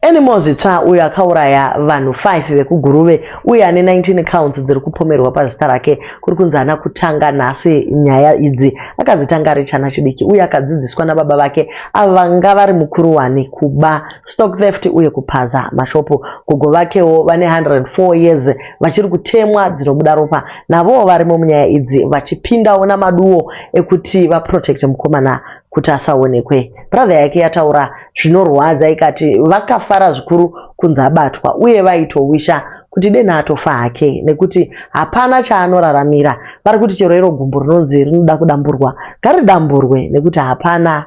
Anymore Zvitsva uyo akauraya vanhu 5 vekuGuruve uye ane 19 counts dziri kupomerwa pazita rake kuri kunzi haana kutanga nhasi nyaya idzi. Akadzitanga ari chana chidiki uye akadzidziswa nababa vake avo vanga vari mukuru wani kuba, stock theft uye kupaza mashopu. Gogo vakewo vane 104 years vachiri kutemwa dzinobuda ropa navowo varimo munyaya idzi vachipindawo namaduwo ekuti vaprotecte mukomana kuti asaonekwe. Brother yake yataura zvinorwadza ikati vakafara zvikuru kunzi abatwa uye vaitowisha kuti deni atofa hake nekuti hapana chaanoraramira. Vari kuti chero iro gumbo rinonzi rinoda kudamburwa ngaridamburwe nekuti hapana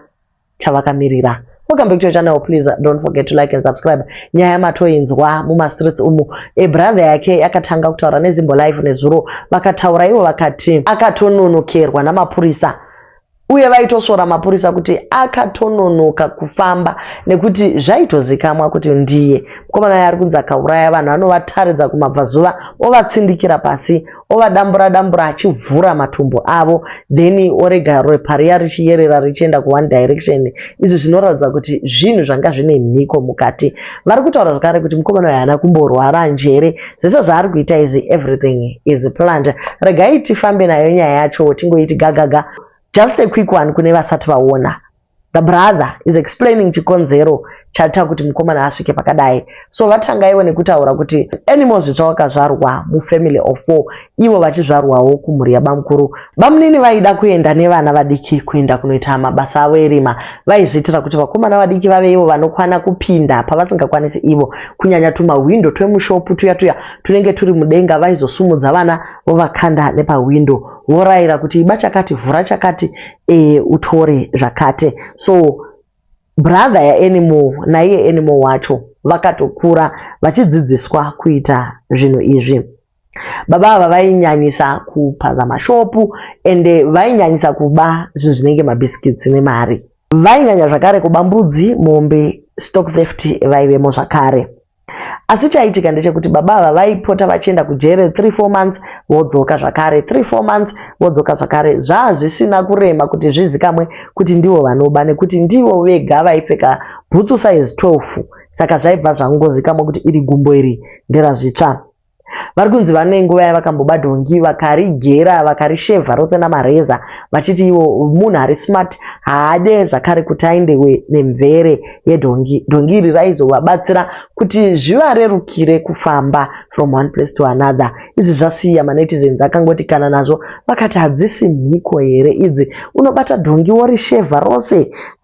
chavakamirira. Welcome back to your channel please don't forget to like and subscribe. Nyaya matoinzwa mumastreets umu. E brother yake yakatanga kutaura neZimbo Live nezuro vakataura ivo vakati akatononokerwa namapurisa uye vaitosvora mapurisa kuti akatononoka kufamba nekuti zvaitozikamwa kuti ndiye mukomana yaari kunzi akauraya vanhu anovataridza kumabvazuva ovatsindikira pasi ovadambura dambura achivhura matumbu avo then orega ropa riya richiyerera richienda kuone direction izvi zvinoratidza kuti zvinhu zvanga zvine mhiko mukati vari kutaura zvakare kuti mukomana uyo haana kumborwara njere zvese zvaari kuita izvi everything is planned regai tifambe nayo nyaya yacho tingoiti gagaga just a quick one kune vasati vaona the brother is explaining chikonzero chaita kuti mukomana asvike pakadai so vatangaiwo nekutaura kuti anymore zvitsva wakazvarwa mufamily of four ivo vachizvarwawo kumhuri yabamukuru bamunini vaida kuenda nevana vadiki kuenda kunoita mabasa avo erima vaizviitira kuti vakomana vadiki vave ivo vanokwana kupinda pavasingakwanisi ivo kunyanya tumahwindo twemushopu tuya tuya tunenge turi mudenga vaizosumudza vana vovakanda nepahwindo vorayira kuti iba chakati vhura chakati e, utore zvakati so brother yaanimal naiye animal wacho vakatokura vachidzidziswa kuita zvinhu izvi baba ava vainyanyisa kupaza mashopu ende vainyanyisa kuba zvinhu zvinenge mabiscuits nemari vainyanya zvakare kuba mbudzi mombe stock theft vaivemo zvakare asi chaitika ndechekuti baba ava vaipota vachienda kujere 34 months vodzoka zvakare 34 months vodzoka zvakare zvaa zvisina kurema kuti zvizikamwe kuti ndivo vanoba nekuti ndivo vega vaipfeka bhutsu size 12 saka zvaibva zvangozikamwa kuti iri gumbo iri nderazvitsva Vari kunzi vane nguva yavakambobba dhongi vakarigera vakarishevha rose namareza vachiti ivo munhu ari smart haade zvakare kuti aendewe nemvere yedhongi. Dhongi iri raizovabatsira kuti zvivarerukire kufamba from one place to another. Izvi zvasiya manetizens akangoti kana nazvo vakati hadzisi mhiko here idzi unobata dhongi worishevha rose.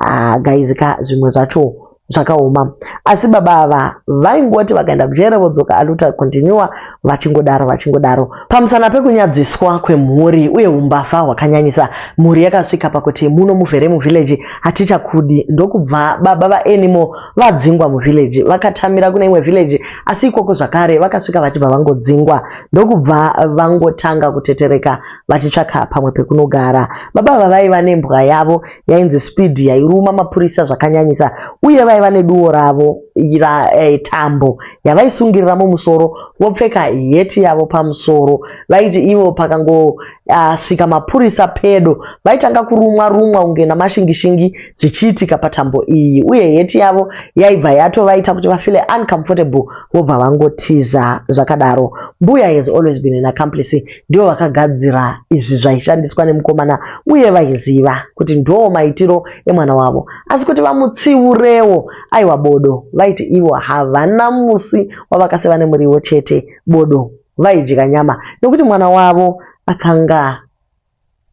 Ah, guys ka zvimwe zvacho. zvakaoma asi baba ava vaingoti vakaenda kujere vodzoka aluta continua vachingodaro vachingodaro pamusana pekunyadziswa kwemhuri uye umbavha hwakanyanyisa mhuri yakasvika pakuti muno muvhere muvhileji hatichakudi ndokubva baba vaanimo vadzingwa muvhileji vakatamira kune imwe vhileji asi ikoko zvakare vakasvika vachibva vangodzingwa ndokubva vangotanga kutetereka vachitsvaka pamwe pekunogara baba ava vaiva nembwa yavo yainzi speed yairuma mapurisa zvakanyanyisa uye vaiva neduwo ravo eh, tambo yavaisungirira mumusoro vopfeka heti yavo pamusoro vaiti ivo pakangosvika ah, uh, mapurisa pedo vaitanga kurumwa rumwa kunge namashingishingi zvichiitika patambo iyi uye heti yavo yaibva yatovaita kuti vafile uncomfortable vobva vangotiza zvakadaro mbuya has always been an accomplice ndivo vakagadzira izvi zvaishandiswa nemukomana uye vaiziva kuti ndoo maitiro emwana wavo asi kuti vamutsiurewo aiwa bodo vaiti ivo havana musi wavakaseva nemuriwo chete bodo vaidya nyama nekuti mwana wavo akanga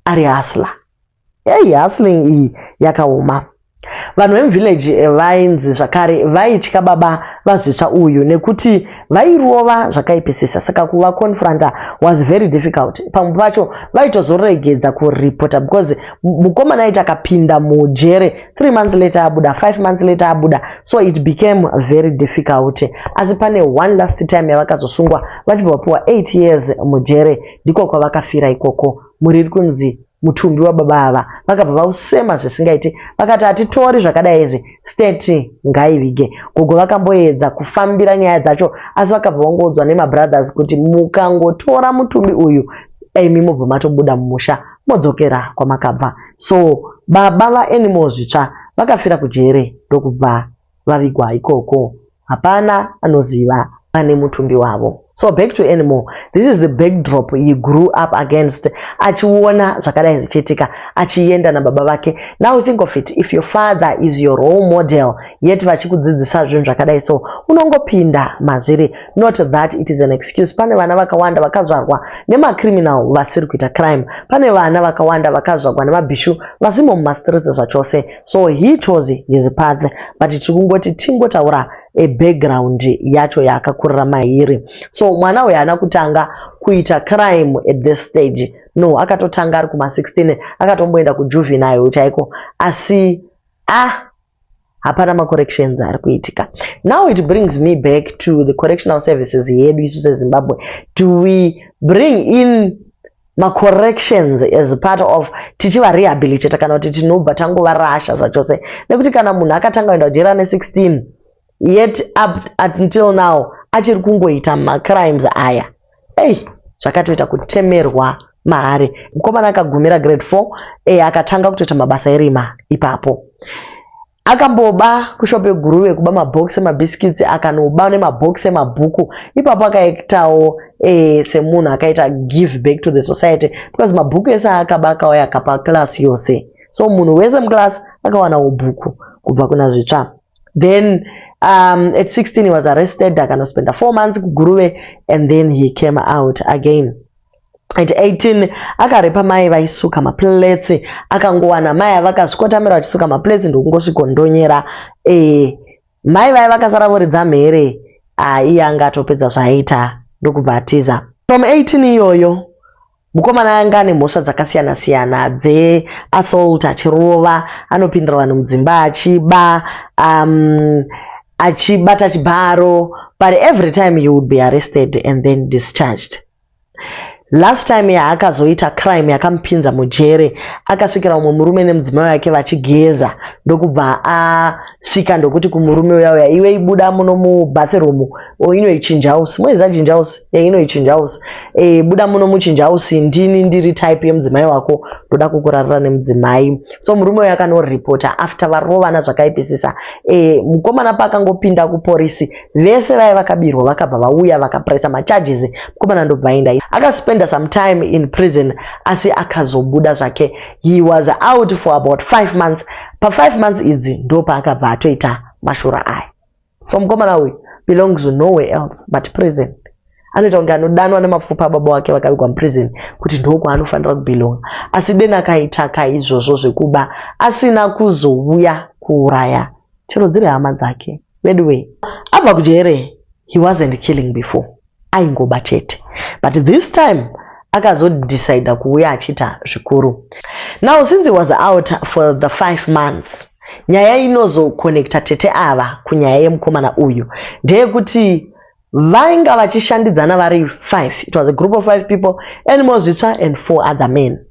ari asla Hey, hustling iyi yakaoma. Vanhu vemuvillage vainzi zvakare vaitya baba vazvitsva uyu nekuti vairova zvakaipisisa saka kuva confronter was very difficult. Pamwe pacho vaitozoregedza kureporter because mukomana aiti akapinda mujere 3 months later abuda 5 months later abuda so it became very difficult. Asi pane one last time yavakazosungwa vachibva vapiwa 8 years mujere ndiko kwavakafira ikoko. mhuri iri kunzi mutumbi wababa ava vakabva vausema zvisingaite vakati hatitori zvakadai izvi steti ngaivige gogo vakamboedza kufambira nyaya dzacho asi vakabva vangoudzwa nemabrothers kuti mukangotora mutumbi uyu imi mobva matobuda mumusha modzokera kwamakabva so baba vaanimal zvitsva vakafira kujere ndokubva vavigwa ikoko hapana anoziva pane mutumbi wavo so back to anymore this is the backdrop he grew up against achiona zvakadai zvichiitika achienda nababa vake now think of it if your father is your role model yet vachikudzidzisa zvinhu zvakadai so unongopinda mazviri not that it is an excuse pane vana vakawanda vakazvarwa nemacriminal vasiri kuita crime pane vana vakawanda vakazvarwa nemabhishu vasimo mumastreets zvachose so he chose his path but tiri kungoti tingotaura a background yacho yaakakurira mairi so mwana uyu haana kutanga kuita crime at this stage no akatotanga ari kuma 16 akatomboenda kujuvenile chaiko asi ah hapana macorrections ari kuitika now it brings me back to the correctional services yedu isu sezimbabwe do we bring in macorrections as part of tichivarehabilitata kana kuti tinobva tangovarasha zvachose nekuti kana munhu akatanga kuenda kujeri ane 16 yet up until now achiri kungoita macrimes aya ei zvakatoita kutemerwa mahari mukomana akagumira grade 4 e akatanga kutoita mabasa erima ipapo Akamboba kushop yeguruve kuba mabox emabhisikitsi akanoba nemabox emabhuku ipapo akaektawo eh, semunhu akaita give back to the society because mabhuku ese aakaba akauya akapa class yose so munhu wese muclass akawanawo bhuku kubva kuna zvitsva then um, at 16 he was arrested akanospenda four months kuguruve and then he came out again At 18 akarepa mai vaisuka maplates akangowana mai avakazvikotamira vachisuka maplates ndokungosvikondonyera e eh, mai vaye vakasara voridza mhere ah, iye anga atopedza zvaaita ndokubva atiza from 18 iyoyo mukomana anga ane mhosva dzakasiyana siyana dzeassault achirova anopindira vanhu mudzimba achiba um, achibata chibharo but every time you would be arrested and then discharged Last time yaakazoita crime yakamupinza mujere akasvikira umwe murume nemudzimai wake vachigeza ndokubva asvika ndokuti kumurume uya uya iwe ibuda muno mubathroom oh, inoichinja house moizajinja house yeah, inoichinja house e, buda muno muchinja house ndini ndiri type yemudzimai wako ndoda kukurarira nemudzimai so murume uya akanoripota after varovana zvakaipisisa e, mukomana paakangopinda kuporisi vese vaya vakabirwa vakabva vauya vakapressa macharges mukomana ndobva aenda akaspenda some time in prison asi akazobuda zvake he was out for about five months pafive months idzi ndo paakabva atoita mashura aya so mukomana uyu belongs nowhere else but prison anoita kunge anodanwa nemapfupa ababa wake vakavigwa muprison kuti ndokwaanofanira kubelonga asi deni akaita kaizvozvo zvekuba asina kuzouya kuuraya chero dziri hama dzake veduwee abva kujere he wasn't killing before aingoba chete but this time akazodecida kuuya achiita zvikuru now since he was out for the five months nyaya inozokonekta tete ava kunyaya yemukomana uyu ndeyekuti vainga vachishandidzana vari five it was a group of five people and mozvitsva and four other men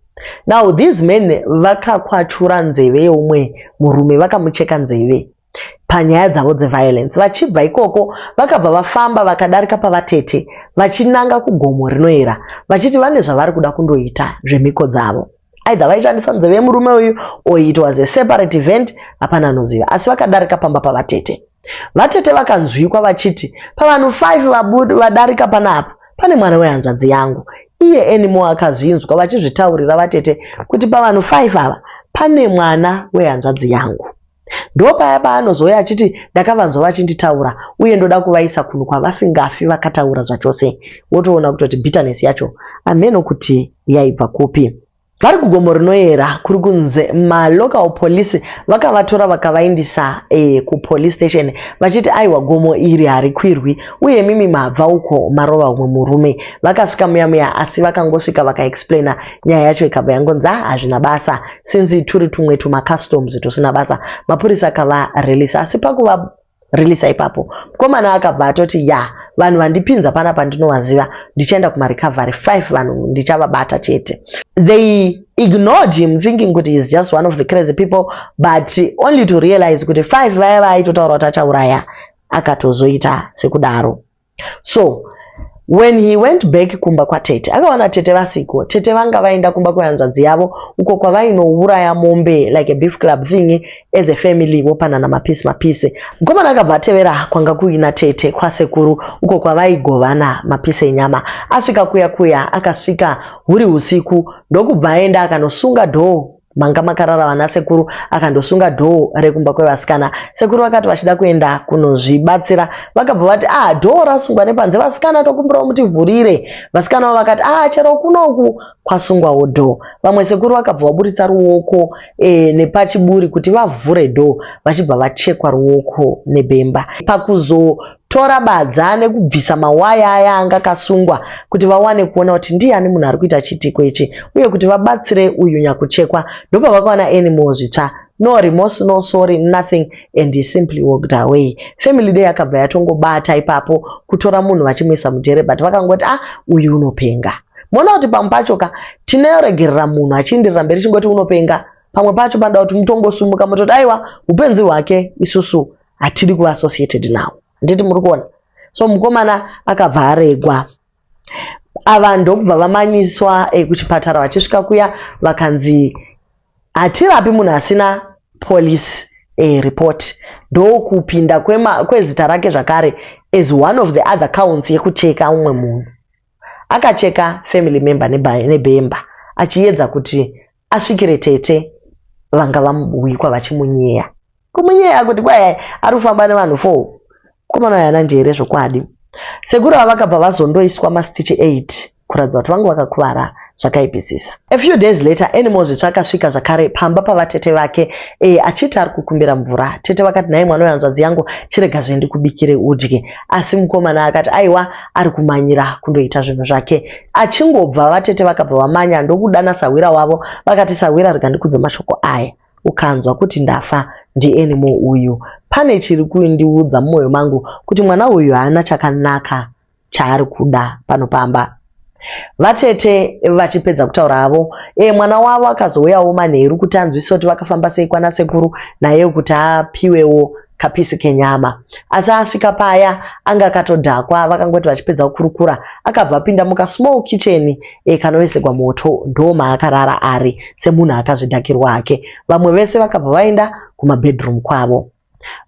now these men vakakwachura nzeve yeumwe murume vakamucheka nzeve panyaya dzavo dzeviolence vachibva ikoko vakabva vafamba vakadarika pavatete vachinanga kugomo rinoera vachiti vane zvavari kuda kundoita zvemhiko dzavo either vaishandisa nzeve yemurume uyu or it was a separate event hapana anoziva asi vakadarika pamba pavatete vatete vakanzwikwa vachiti pavanhu 5 vadarika panapa pane mwana wehanzvadzi yangu iye enimo akazvinzwa vachizvitaurira vatete kuti pavanhu 5 ava pane mwana wehanzvadzi yangu Ndopaya paanozouya achiti ndakavanzwa vachinditaura uye ndoda kuvaisa kunhu kwavasingafi vakataura zvachose. Wotoona kutoti bitterness yacho hameno kuti yaibva kupi. Vari kugomo rinoyera kuri kunze malocal police vakavatora vakavaindisa e, kupolice station vachiti aiwa gomo iri harikwirwi uye mimi mabva uko marova umwe murume. Vakasvika muya muya asi vakangosvika vakaexplaina nyaya yacho ikabva yangonzi ah hazvina basa since turi tumwe tumacustoms tusina basa mapurisa akava release asi pakuva release ipapo mukomana akabva atoti ya vanhu vandipinza pana pandinovaziva ndichaenda kumarecovery five vanhu ndichavabata chete they ignored him thinking kuti heis just one of the crazy people but only to realize kuti five vaya vaaitotaura kuti achauraya akatozoita sekudaro so when he went back kumba kwatete akawana tete vasiko tete vanga vaenda kumba kwehanzvadzi yavo uko kwavainouraya mombe like a beef club thing as a family vopanana mapisi mapisi mukomana akabva atevera kwanga kuina tete kwasekuru uko kwavaigovana mapisi enyama asvika kuya kuya akasvika huri usiku ndokubva aenda akanosunga dhoo manga makarara vana sekuru akandosunga dhoo rekumba kwevasikana sekuru vakati vachida kuenda kunozvibatsira vakabva vati ah dhoo rasungwa nepanze vasikana tokumbirawo mutivhurire vasikana vavo vakati ah chero kunoku kwasungwawo dhoo vamwe sekuru vakabva vaburitsa ruoko e, nepachiburi kuti vavhure dhoo vachibva vachekwa ruoko nebemba pakuzo Tora badza nekubvisa mawaya aya anga akasungwa kuti vawane kuona kuti ndiyani munhu ari kuita chiitiko ichi uye kuti vabatsire uyu nyakuchekwa. Ndopavakawana Anymore zvitsva. No remorse, no sorry, nothing and he simply walked away. Family day yakabva yatongobata ipapo kutora munhu vachimuisa mujere but vakangoti ah uyu unopenga. Moona kuti pamwe pacho ka tinoregerera munhu achiindirira mberi chingoti unopenga. Pamwe pacho panoda kuti mutongosumuka mototi aiwa upenzi hwake isusu hatidi kuva associated nawo handiti muri kuona so mukomana akabva aregwa ava ndokubva vamanyiswa eh, kuchipatara vachisvika kuya vakanzi hatirapi munhu asina police eh, report ndokupinda kwezita rake zvakare as one of the other counts yekucheka umwe munhu akacheka family member nebemba achiyedza kuti asvikire tete vanga vamubuwikwa vachimunyeya kumunyeya kuti kwai ari kufamba nevanhu four mukomana uyu haana njere zvokwadi sekuru ava vakabva vazondoiswa mastichi 8 kuratidza kuti vangu vakakuvara zvakaipisisa a few days later anymore zvitsva akasvika zvakare pamba pavatete vake e, achiti ari kukumbira mvura tete vakati nhai mwana wehanzvadzi yangu chirega zvendikubikire udye asi mukomana akati aiwa ari kumanyira kundoita zvinhu zvake Achingobva vatete vakabva vamanya ndokudana sahwira wavo vakati sahwira rega ndikudze mashoko aya ukanzwa kuti ndafa ndienimo uyu pane chiri kundiudza mumwoyo mangu kuti mwana uyu haana chakanaka chaari kuda pano pamba vatete vachipedza kutaura havo e mwana wavo akazouyawo manheru kuti anzwisisa kuti vakafamba sei kwana sekuru naye kuti apiwewo kapisi kenyama asi asvika paya anga akatodhakwa vakangoti vachipedza kukurukura akabva apinda muka small kitchen e, kanovesekwa moto ndoomaakarara ari semunhu akazvidhakirwa hake vamwe vese vakabva vaenda kumabedroom kwavo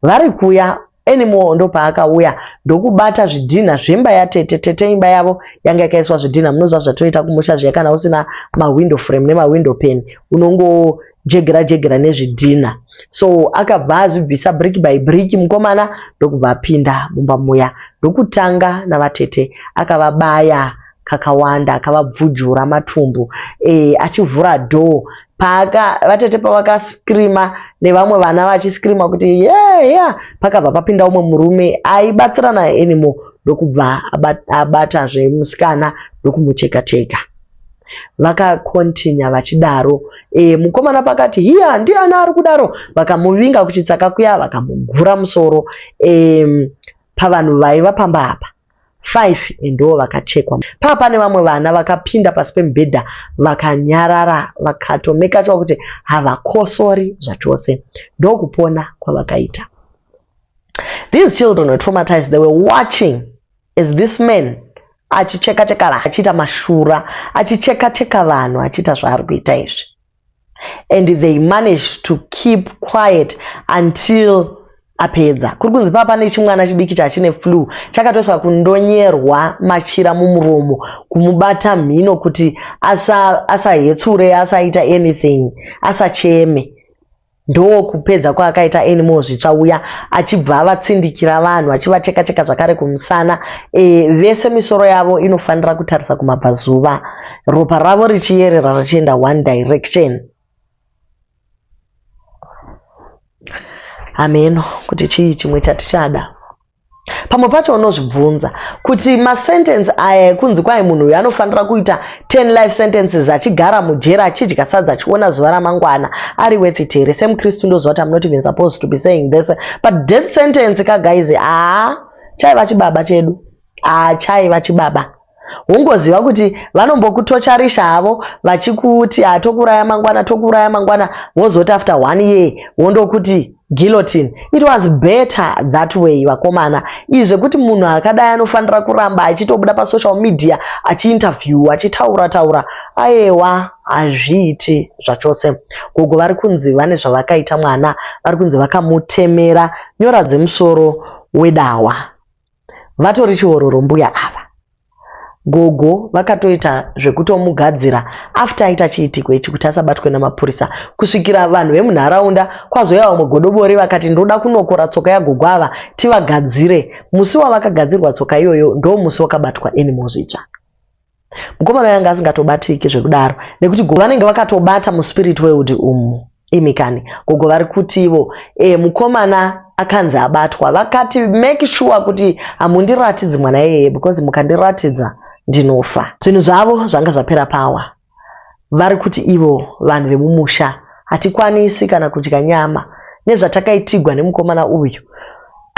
vari kuya anymore ndopaakauya ndokubata zvidhinha zvemba yatete tete imba yavo yanga yakaiswa zvidhinha munoziva zvatoita kumusha zviya kana usina mawindow frame nemawindow pen unongo jegera jegera nezvidhinha so akabva azvibvisa brick by brick mukomana ndokubva apinda mumba muya ndokutanga navatete akavabaya kakawanda akavabvujura matumbu eh, achivhura door paaka vatete pavakascreama nevamwe vana vachiscreama kuti yeah, yeah. pakabva papinda umwe murume aibatsirana anymore ndokubva abatazve musikana ndokumucheka cheka, cheka. vakakontinya vachidaro e, mukomana pakati hiya ndiani ari kudaro vakamuvinga kuchitsaka kuya vakamugura musoro e, pavanhu vaiva pamba apa five ndoo vakachekwa paa pane vamwe vana vakapinda pasi pemubhedha vakanyarara vakatomekachwa kuti havakosori zvachose ndokupona kwavakaita these children were traumatized they were watching as this man achicheka cheka achiita mashura achicheka cheka vanhu achiita zvaari kuita izvi and they managed to keep quiet until apedza kuri kunzi pava pane chimwana chidiki chachine flu chakatoiswa kundonyerwa machira mumuromo kumubata mhino kuti asahetsure asa asaita anything asacheme Ndokupedza kwaakaita Anymore Zvitsva uya achibva avatsindikira vanhu achivateka teka zvakare kumusana e, vese misoro yavo inofanira kutarisa kumabvazuva ropa ravo richiyerera richienda one direction. Hameno kuti chii chimwe chatichada. pamwe pacho unozvibvunza kuti masentensi aya ekunzi kwai munhu uyu anofanira kuita 10 life sentences achigara mujera achidya sadza achiona zuva ramangwana ari worth it here semukristu ndoziva kuti amunot even supposed to be saying this but death sentence kagaizi haa chaiva chibaba chedu haa chaiva chibaba Ungoziva kuti vanombokutocharisha havo vachikuti ah, tokuuraya mangwana tokuuraya mangwana wozoti after one year wondokuti guillotine. It was better that way vakomana. Izvi zvekuti munhu akadai anofanira kuramba achitobuda pasocial media achiinterview achitaura taura ayewa hazviiti zvachose. Gogo vari kunzi vane zvavakaita mwana vari kunzi vakamutemera nyora dzemusoro wedawa. vatori chihororo mbuya ava gogo vakatoita zvekutomugadzira after aita chiitiko ichi kuti asabatwe namapurisa kusvikira vanhu vemunharaunda kwazoya vamwe godobori vakati ndoda kunokora tsoka yagogo ava tivagadzire musi wavakagadzirwa tsoka iyoyo ndo musi wakabatwa animal zvitsva Mukomana uyu anga asingatobatiki zvekudaro nekuti gogo vanenge vakatobata muspirit weudi umu. Imi kani gogo vari kuti ivo e, mukomana akanzi abatwa vakati make sure kuti hamundiratidzi mwana iyeye because mukandiratidza ndinofa. Zvinhu zvavo zvanga zvapera power. Vari kuti ivo vanhu vemumusha hatikwanisi kana kudya nyama nezvatakaitigwa nemukomana uyu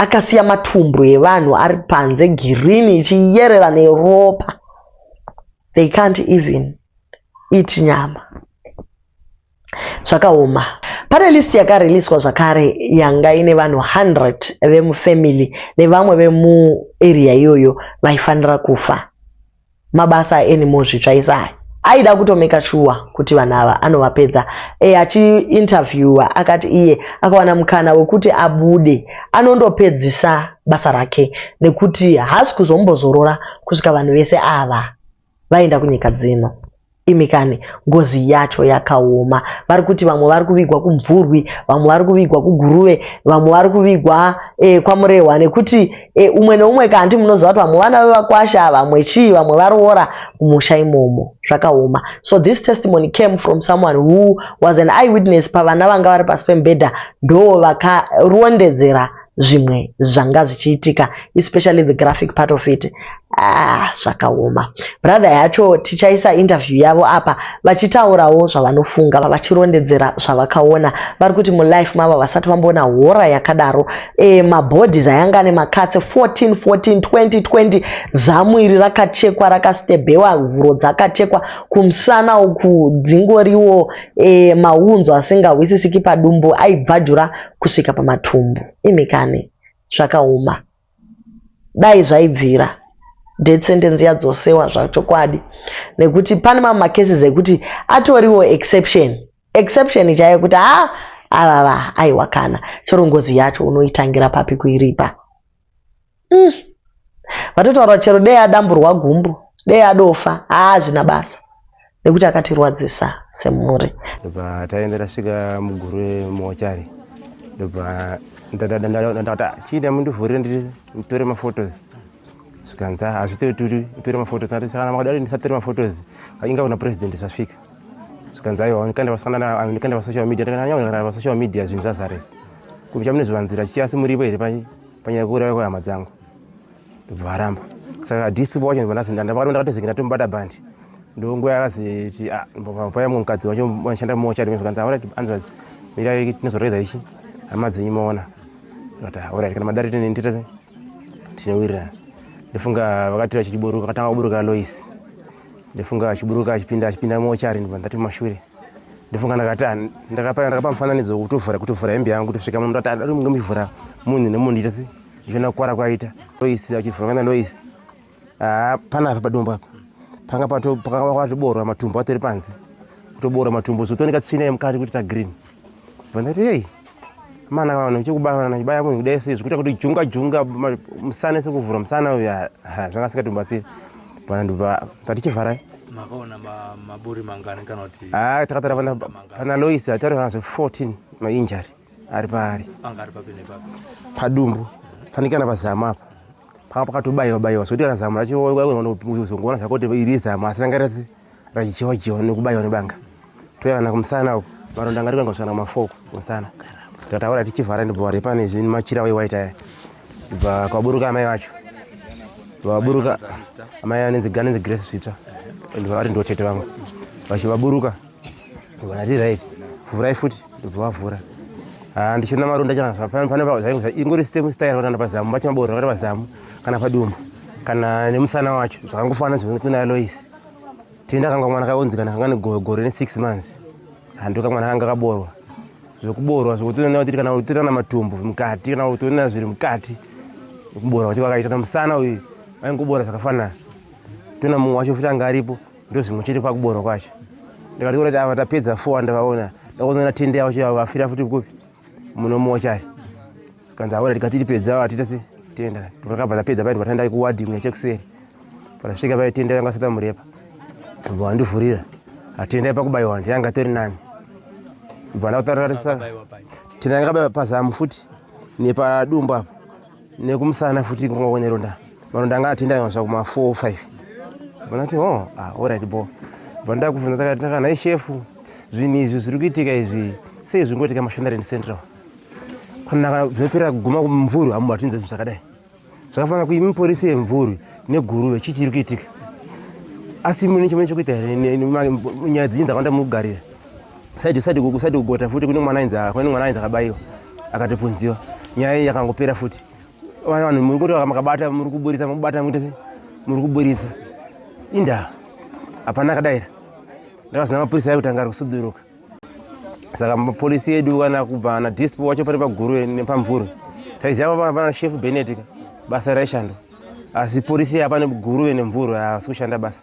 akasiya matumbu evanhu ari panze girini ichiyerera neropa. They can't even eat nyama. Zvakaoma. Pane list yakariliswa zvakare yanga ine vanhu 100 vemufamily nevamwe vemuarea iyoyo vaifanira kufa. mabasa anymore zvitsva ese aya aida kutomeka shuwa kuti vanhu ava anovapedza e, achiinterviewa akati iye akawana mukana wekuti abude anondopedzisa basa rake nekuti haasi kuzombozorora kusvika vanhu vese ava vaenda kunyika dzino Imi kani ngozi yacho yakaoma. Vari kuti vamwe vari kuvigwa kuMvurwi, vamwe vari kuvigwa kuGuruve, vamwe vari kuvigwa eh, kwaMurehwa nekuti eh, umwe neumwe kanti munoziva kuti vamwe vana vevakwasha, vamwe chii, vamwe varoora kumusha imomo. Zvakaoma. So this testimony came from someone who was an eyewitness pavana vanga vari pasi pemubhedha ndoo vakarondedzera zvimwe zvanga zvichiitika especially the graphic part of it ah, zvakaoma brother yacho tichaisa interview yavo apa vachitaurawo zvavanofunga vachirondedzera zvavakaona vari kuti mulife mava vasati vamboona hora yakadaro e, eh, mabodies ayanga ane makatse 14 14 20 20 zamu iri rakachekwa rakastebhewa huro dzakachekwa kumusana uku dzingoriwo e, eh, maunzo asingahwisisiki padumbu aibvadura kusvika pamatumbu imi kani zvakaoma dai zvaibvira death sentence yadzosewa zvachokwadi nekuti pane mamwe macases ekuti atoriwo exception exception chaiyo kuti ha ah, avava aiwa kana chero ngozi yacho unoitangira papi kuiripa mm. vatotaura chero dei adamburwa gumbo dei adofa haazvina basa nekuti akatirwadzisa semhuri ndobva taenda tasvika muguru remochari ndobva ndata chiita mundivhurire nditore maphotos zvikanza hazvitoturi utore maphotos ati sakana makadari ndisatore maphotos inga kuna president zvasvika zvikanza aiwa ndikanda vasocial media ndikanda vasocial media zvinhu zvazaresa Kumusha mune zvivanzira chichiya asi muripo here panyaya yekuuraya kwehama dzangu ndobva varamba saka hadisi wacho ndibva ndazi ndandavaro ndakatozenge ndatomubata bhandi ndonguva yakaziti ah, paya mumwe mukadzi wacho vanoshanda mumochari mezvakanzi aora anzwa mirai tinozoreza ichi hama dzenyu maona vati aora ah, kana madari tine nditese tinowirirana ndofunga vakatira chichiburuka katanga kuburuka lois ndofunga achiburuka achipinda achipinda mochari ndibva ndati mumashure ndofunga ndakati ah, ndakapa ndakapa mufananidzo kutovhura kutovhura hembe yangu kutosvika munhu ndati adari munge muchivhura munhu nemunhu ndiita se ndichiona kukuvara kwaita loisi achivhura kana loisi haa pana apa padumbu apa panga pakanga kwatoboorwa matumbu atori panze kutoboorwa matumbu so tooneka tsvina yemukati kuti tagreen bva ndati hei mana vanhu uchikubana chibaya munhu kudai sei zvikuita kuti junga junga musana sekuvhura musana uya zvakasika tibatsira bana ndobva tatichivharai makaona maburi mangani kana kuti ha takatara pana lois atarivana zve 14 mainjari ari paari anga ari papi nepapi padumbu fanikana pazamu apa panga pakatobaiwa baiwa zvekuti kana zamu racho uzongoona zvako kuti iri zamu asi rangaratsi Radyiwa dyiwa nekubaiwa nebanga. Toya kana kumusana uko. Maronda ngati kanga kusana mafoko kumusana. Tataura tichivhara ndibva wari pane zvinhu machira we white aya. Bva kwaburuka amai vacho. Vaburuka amai anenzi gani nzi Grace Svita. Ndibva wari ndotete vangu. Vachivaburuka. Ndibva nati right. Vhurai futi ndibva wavhura. Ah, ndichiona maronda chana zvapano pane zvainge zva ingori stem style kana pazamu bacha mabodo kana pazamu kana padumbu kana nemusana wacho zvakangofanana zvinokuti kuna Lois tenda kanga mwana kaonzi kana kanga negore ne6 months handoka mwana kanga kaborwa zvekuborwa zvekutoona kuti kana utoona matumbu mukati kana utoona zviri mukati kuborwa kuti kwakaita na musana uyu aingobora zvakafanana tona mumwe wacho futi anga aripo ndozvimwe chete kwakuborwa kwacho ndikati kuti ava tapedza 4 ndavaona ndakuona tende yavo chivavo vafira futi kupi munomocha sikanzi aona tikati tipedza vatita se tenda vakabva tapedza paiti vatandai kuwadi imwe chekuseri patasvika pai tenda yanga sata murepa bva wandivhurira atenda pakubayiwa ndiyanga tori nani bva ndakutaririsa tenda yanga kabaiwa pazamu futi nepadumbu apa nekumusana futi kungowa neronda maronda anga atenda yonzva kuma 4 or 5 vanati oh ah alright bo vanda kuvhunza taka taka nai chef zvinhu izvi zviri kuitika izvi sei zvingoitika mashandari in central panaka zvinopera kuguma kumvuru hamu hatinzwa zvinhu zvakadai zvakafanira kuti imi polisi yemvuru neguruve chii chiri kuitika asi mune chimwe chekuita here nyaya dzinyi dzakawanda mukugarira saidi saidi kuku saidi kugota futi kune mwana ainzi kune mwana ainzi akabayiwa akatopunziwa nyaya iyi yakangopera futi vana vanhu muri kuti makabata muri kuburitsa mubata muite sei muri kuburitsa indaa hapana akadaira ndakazona mapurisa ayi kutanga ari kusuduruka saka mapolisi edu kana kubva ana dispo wacho pane paguru nepamvuru taiziva vana shefu benetika basa raishando asi polisi apa neguru nemvuru haasi kushanda basa